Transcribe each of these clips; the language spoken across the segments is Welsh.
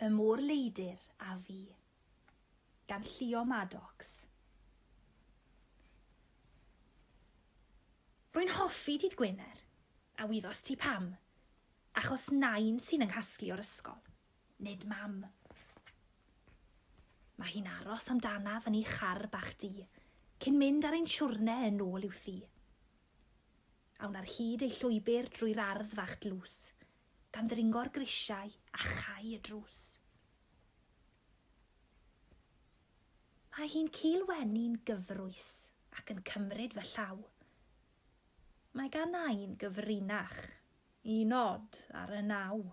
Y Môr Leidr a Fi, gan Llio Maddox. Rwy'n hoffi Dydd Gwener, a wyddors ti pam? Achos Nain sy'n 'y nghasglu o'r ysgol. Nid mam. Mae hi'n aros amdanaf yn ei char bach du, cyn mynd ar ein siwrne yn ôl i'w thŷ. Awn ar hyd ei llwybr drwy'r ardd fach dlws, gan ddringo'r grisiau a chau y drws. Mae hi'n culweni'n gyfrwys ac yn cymryd fy llaw. Mae gan Nain gyfrinach i nod ar y naw.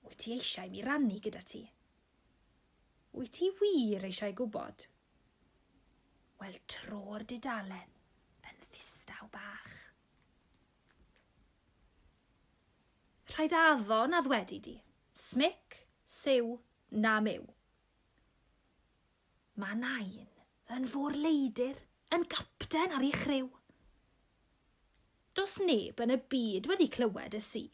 Wyt ti eisiau mi rannu gyda ti? Wyt ti wir eisiau gwybod? Wel, tro'r dudalen yn ddistaw bach. Rhaid addo na ddwedi di. Smic, siw, na myw. Mae nain yn fôr leidr, yn gapten ar ei chryw. Does neb yn y byd wedi clywed y si.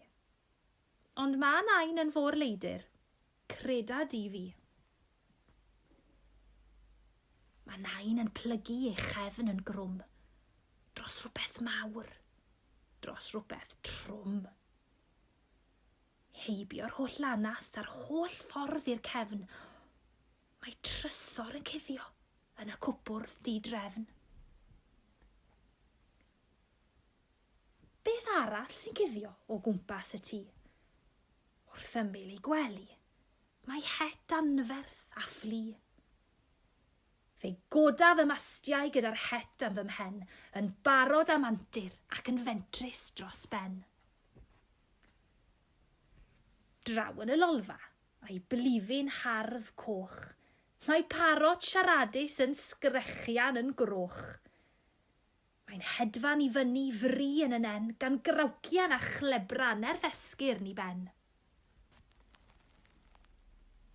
Ond ma' nain yn fôr leidyr, creda di fi. Mae nain yn plygu ei chefn yn grwm dros rhywbeth mawr, dros rhywbeth trwm. Heibio'r holl lanast a'r holl ffordd i'r cefn, mae trysor yn cuddio yn y cwpwrdd di-drefn. Beth arall sy'n cuddio o gwmpas y tŷ? Wrth ymyl ei gwely, mae het anferth a fflu. Fe goda fy mastiau gyda'r het am fy mhen, yn barod am antur ac yn fentrus dros ben. Draw yn y lolfa, a'i blifyn hardd coch, mae parot siaradus yn sgrechian yn groch. Mae'n hedfan i fyny fri yn y nen gan grawcian a chlebra nerth esgyrn i ben.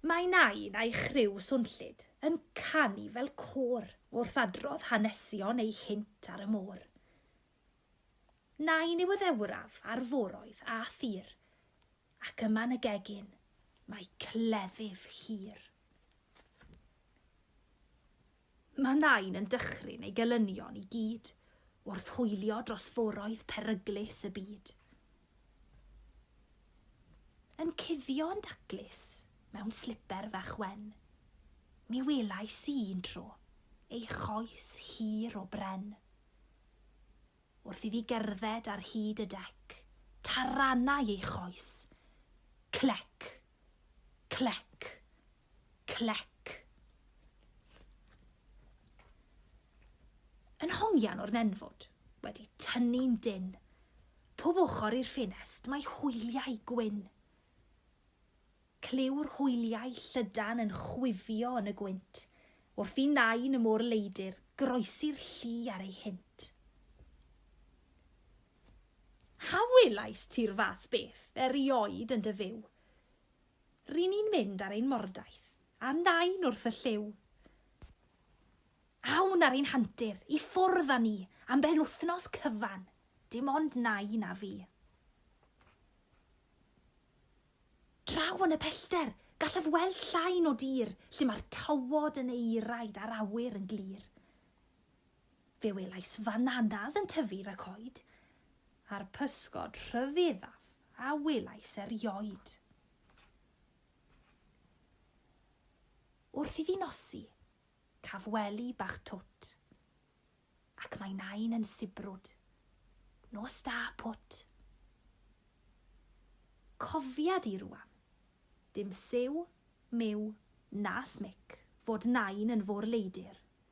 Mae Nain a'i chriw swnllyd yn canu fel côr wrth adrodd hanesion eu hynt ar y môr. Nain yw y ddeuraf a'r foroedd a thir, ac yma yn y gegin mae cleddyf hir. Mae Nain yn dychryn ei gelynion i gyd wrth hwylio dros foroedd peryglus y byd. Yn cuddio yn daclus mewn sliper fach wen, mi welais i un tro ei choes hir o bren. Wrth iddi gerdded ar hyd y dec, taranai ei choes. Clec! Clec. Clec. Yn hongian o'r nenfwd, wedi tynnu'n dyn. Pob ochr i'r ffenest mae hwyliau gwyn. Clyw'r hwyliau llydan yn chwifio yn y gwynt, wrth i nain y môr leidr groesi'r lli ar ei hynt. A welaist ti'r fath beth erioed yn dy fyw? Ry'n ni'n mynd ar ein mordaith, a nain wrth y llyw. Awn ar ein hantur, i ffwrdd â ni, am benwthnos cyfan, dim ond nain a fi. Draw yn y pellter, gallaf weld llain o dir, lle mae'r tywod yn eiraid a'r awyr yn glir. Fe welais fananas yn tyfu i'r coed, a'r pysgod rhyfeddaf a welais erioed. Wrth iddi nosi, caf wely bach twt, ac mae nain yn sibrwd. Nos da, Pwt! Cofiad i rwan, dim siw, miw, na smic, fod nain yn fôr-leidr.